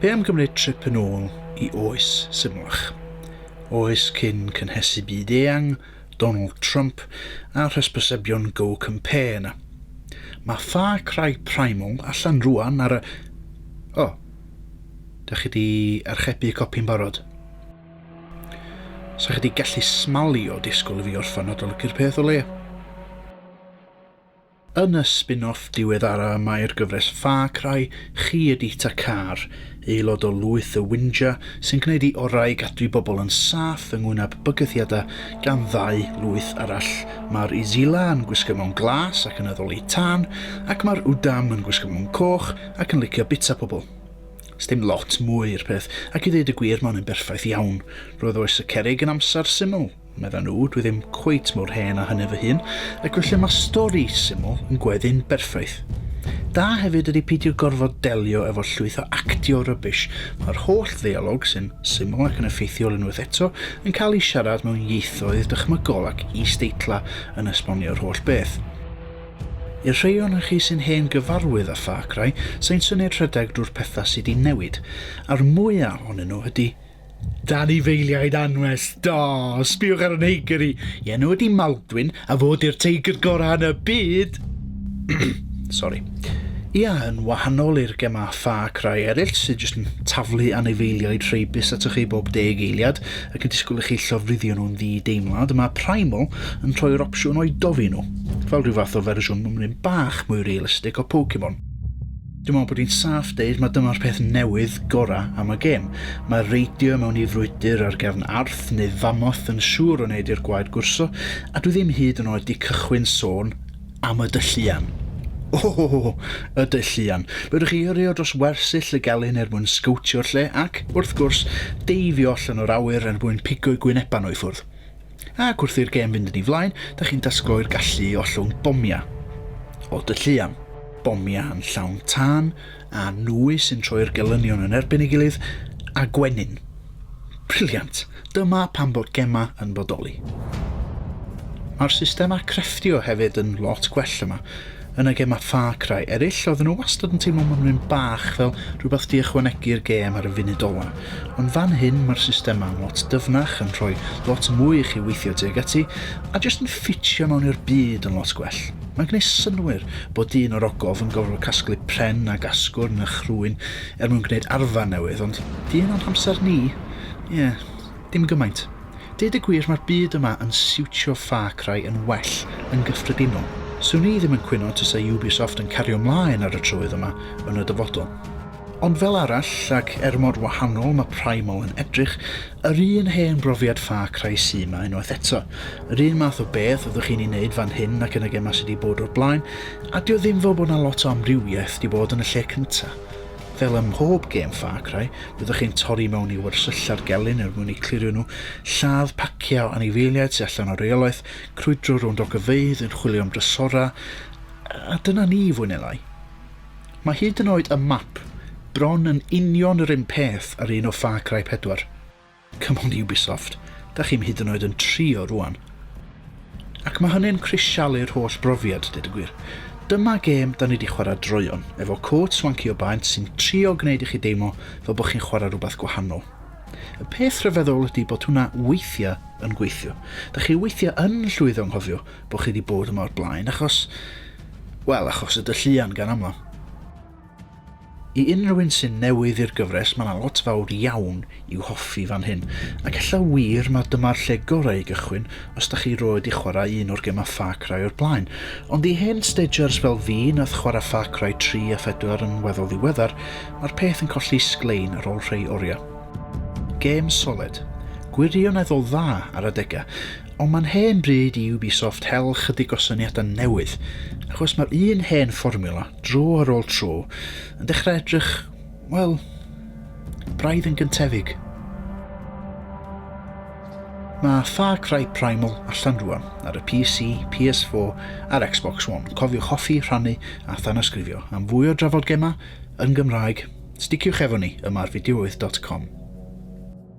Be am gymryd trip yn ôl i oes symlach? Oes cyn cynhesu byd eang, Donald Trump a'r hysbysebion Go Compare yna. Mae Far Cry Primal allan rwan ar y... O! Dach chi di archebu copi'n barod? Sa chi di gallu smalio disgwyl i fi orffan adolygu'r peth o leia? Yn y spin-off diweddara mae'r gyfres Far Cry, chi ydi Takkar, aelod o lwyth y Windja sy'n gwneud ei orau i gadw i bobl yn saff yng ngwyneb bygythiadau gan ddau lwyth arall. Mae'r Izila yn gwisgo mewn glas ac yn addoli tân, ac mae'r Udam yn gwisgo mewn coch ac yn licio bitsa pobl. Sdim lot mwy i'r peth, ac i ddeud y gwir mae hwn yn berffaith iawn. Roedd oes y cerrig yn amser syml. Medda nhw, dwi ddim cweit mor hen a hynny fy hun, ac felly mae stori syml yn gweddu'n berffaith. Da hefyd ydy peidio gorfod delio efo llwyth o actio rubbish, mae'r holl ddeialog sy'n syml ac yn effeithiol unwaith eto yn cael ei siarad mewn ieithoedd dychmygol ac is-deitla yn esbonio'r holl beth. I'r rhei ohonoch chi sy'n hen gyfarwydd â Far Cry, sa i'n synied rhedeg drwy'r pethau sy' 'di newid, a'r mwya' ohonyn nhw ydy Dan i feiliaid anwes, da! Sbiwch ar y neigr i i enw ydi Maldwyn a fo di'r teigr gora yn y byd! Sori. Ia, yn wahanol i'r gema Far Cry eryll sydd jyst yn taflu anifeiliaid rheibus atoch chi bob deg eiliad ac yn disgwyl i chi llofruddio nhw'n ddi-deimlad, mae Primal yn rhoi'r opsiwn o'u dofi nhw, fel rhyw fath o fersiwn mymryn bach mwy realistig o Pokemon. Dwi'n meddwl bod hi'n saff deud mae dyma'r peth newydd gorau am y gêm. Mae reidio mewn i frwydr ar gefn arth neu famoth yn siŵr o wneud i'r gwaed gwrso, a dwi ddim hyd yn oed di cychwyn sôn am y dylluan. O! Y dylluan. Fedrwch chi yrrio dros wersyll y gelyn er mwyn sgowtio'r lle ac, wrth gwrs, deifio allan o'r awyr er mwyn pigo'i gwynebau nhw i ffwrdd. Ac wrth i'r gêm fynd yn ei flaen, dych chi'n dysgloi'r gallu i ollwng bomiau o dy llu am. Bomiau yn llawn tân a nwy sy'n troi'r gelynion yn erbyn ei gilydd, a gwenyn. Briliant! Dyma pam bod gemau yn bodoli. Mae'r systemau crefftio hefyd yn lot gwell yma. yn y gemau Far Cry eraill, oedden nhw wastad yn teimlo mymryn bach fel rhywbeth di ychwanegu i'r gêm ar y funud ola. Ond fan hyn mae'r systemau yn lot dyfnach, yn rhoi lot mwy i chi weithio tuag ati, a jyst yn ffitio mewn i'r byd yn lot gwell. Mae'n gwneud synnwyr bod dyn o'r ogof yn gorfod casglu pren ac asgwrn a'ch rhwyn er mwyn gwneud arfau newydd, ond di hynna'n hamser ni? Ie, Dim gymaint. Deud y gwir mae'r byd yma yn siwtio Far Cry yn well yn gyffredinol. Swn i ddim yn cwyno tasa Ubisoft yn cario mlaen ar y trywydd yma yn y dyfodol. Ond fel arall, ac er mor wahanol mae Primal yn edrych, yr un hen brofiad Far Cry sy 'ma unwaith eto. Yr un math o beth fyddwch chi'n ei wneud fan hyn ac yn y gemau sy 'di bod o'r blaen, a 'di o ddim fel bod 'na lot o amrywiaeth 'di bod yn y lle cynta. Fel ym mhob gêm Far Cry, byddwch chi'n torri mewn i wersylla'r gelyn er mwyn eu clirio nhw, lladd paciau o anifeiliaid sydd allan o reolaeth, crwydro rownd ogofeydd yn chwilio am drysorau, a dyna ni, fwy neu lai. Mae hyd yn oed y map bron yn union yr un peth â'r un o Far Cry 4. Come on Ubisoft, dach chi'm hyd yn oed yn trio rŵan. Ac mae hynny'n crisialu'r holl brofiad, deud y gwir. Dyma gêm da ni di chwarae droeon, efo côt swanci o baent sy'n trio gwneud i chi deimlo fel bod chi'n chwarae rhywbeth gwahanol. Y peth rhyfeddol ydy bod hwnna weithiau yn gweithio. Da chi weithiau yn llwyddo nghofio bod chi di bod yma o'r blaen, achos... Wel, achos y dylluan gan amla. I unrhyw un sy'n newydd i'r gyfres mae 'na lot fawr iawn i'w hoffi fan hyn, ac ella wir ma dyma'r lle gorau i gychwyn os da chi roed i chwarae un o'r gemau Far Cry o'r blaen, ond i hen stagers fel fi nath chwarae Far Cry 3 a 4 yn weddol ddiweddar, ma'r peth yn colli sglein ar ol rhei oriau. Gêm soled. Gwirioneddol dda ar adega, ond ma'n hen bryd i Ubisoft hel chydig o syniadau newydd, achos ma'r un hen fformiwla, Dro ar ôl tro, yn dechrau edrych, wel, braidd yn gyntefig. Mae Far Cry Primal allan rwan ar y PC, PS4 a'r Xbox One. Cofiwch hoffi, rhannu a thanasgrifio. Am fwy o drafod gemau yn Gymraeg, sticiwch efo ni yma ar fideowydd.com.